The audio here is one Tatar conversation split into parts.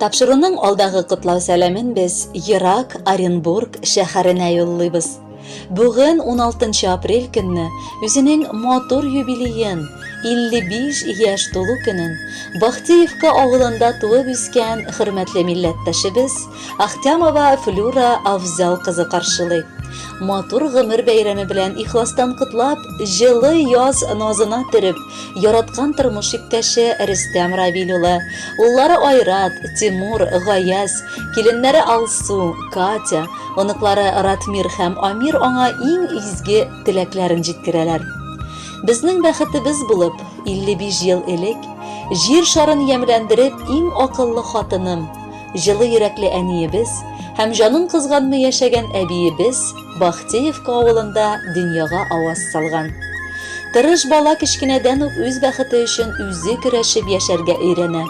Тапшыруның алдагы котлау сәламен без Ерак Оренбург шәһәренә юллыйбыз. Бүген 16 апрель көнне үзенең матур юбилеен, 55 яшь тулу көнен Бахтеевка авылында туып үскән хөрмәтле милләттәшебез Ахтямова Флюра Авзал кызы каршылый. Матур гомер бәйрәме белән ихластан котлап, җылы яз назына төреп, Яраткан тормыш иптәше Рөстәм Равил улы, уллары Айрат, Тимур, Гаяз, киленнәре Алсу, Катя, оныклары Ратмир һәм Амир аңа иң изге теләкләрен җиткерәләр. Безнең бәхетебез булып, 55 ел элек, Җир шарын ямьләндереп, иң акыллы хатыным, җылы йөрәкле әниебез һәм җанын кызганмый яшәгән әбиебез Бахтеевка авылында дөньяга аваз салган. Тырыш бала кечкенәдән үк үз бәхете өчен үзе көрәшеп яшәргә өйрәнә.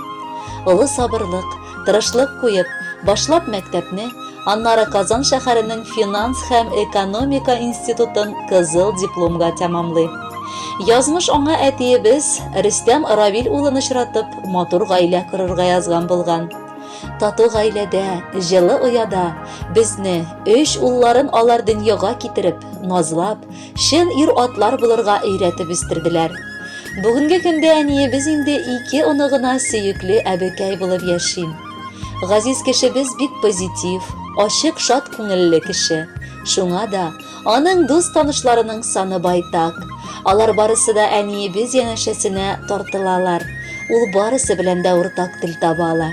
Олы сабырлык, тырышлык куеп, башлап мәктәпне, аннары Казан шәһәренең финанс һәм экономика институтын кызыл дипломга тәмамлый. Язмыш аңа әтиебез Рөстәм Равил улын очратып, матур гаилә корырга язган булган. Тату гаиләдә, җылы ояда безне, өч улларын алар дөньяга китереп, назлап, чын ир-атлар булырга өйрәтеп үстерделәр. Бүгенге көндә әниебез инде ике оныгына сөекле әбекәй булып яши. Газиз кешебез бик позитив, ачык, шат күңелле кеше. Шуңа да Аның дус-танышларының саны байтак. Алар барысы да әниебез янәшәсенә тартылалар. Ул барысы белән дә уртак тел таба ала.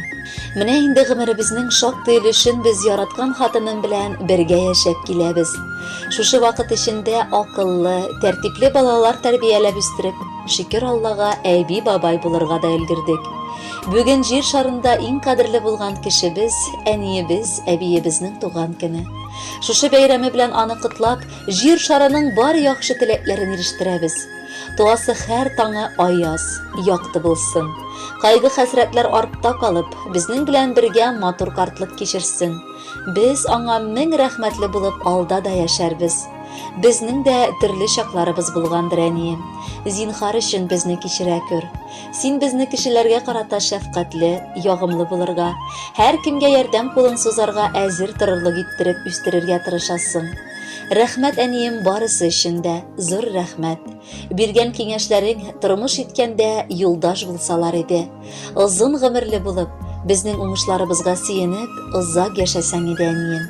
Менә инде гомеребезнең шактый өлешен без яраткан хатыным белән бергә яшәп киләбез. Шушы вакыт эчендә акыллы, тәртипле балалар тәрбияләп үстереп, шөкер Аллага, әби-бабай булырга да өлгердек. Бүген җир шарында иң кадерле булган кешебез, әниебез, әбиебезнең туган көне. Шушы бәйрәме белән аны котлап, җир шарының бар яхшы теләкләрен ирештерәбез. Туасы хәр таңы аяз, якты булсын. Кайгы хәсрәтләр артта калып, безнең белән бергә матур картлык кичерсен. Без аңа мең рәхмәтле булып алда да яшәрбез. Безнең дә төрле чакларыбыз булгандыр, әнием. Зинхар өчен безне кичерә күр. Син безне кешеләргә карата шәфкатьле, ягымлы булырга, һәр кемгә ярдәм кулын сузарга әзер торырлык иттереп үстерергә тырышасың. Рәхмәт, әнием, барысы өчен дә, зур рәхмәт. Биргән киңәшләрең тормыш иткәндә юлдаш булсалар иде. Озын гомерле булып, безнең уңышларыбызга сөенеп, озак яшәсәң иде, әнием.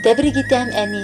Тәбрик итәм, әни,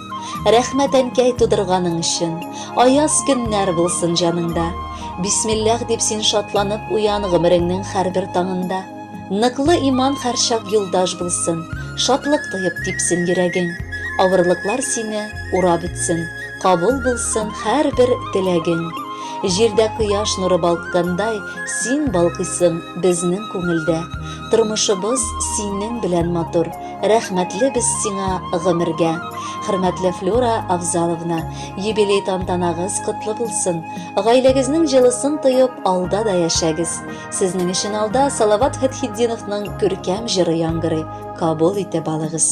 Рәхмәт әнкәй тудырганың өчен. Аяз көннәр булсын җаныңда. Бисмиллах дип син шатланып уян гомереңнең һәрбер таңында. Ныклы иман һәрчак юлдаш булсын, шатлык тоеп типсен йөрәгең. Авырлыклар сине урап үтсен, кабул булсын һәрбер теләгең. Җирдә кояш нуры балккандай, син балкыйсың безнең күңелдә. Тормышыбыз синең белән матур, Рәхмәтле без сиңа гомергә. Хөрмәтле Флюра Авзаловна, юбилей тантанагыз котлы булсын. Гаиләгезнең җылысын тоеп, алда да яшәгез. Сезнең өчен алда Салават Фәтхетдиновның күркәм җыры яңгырый. Кабул итеп алыгыз.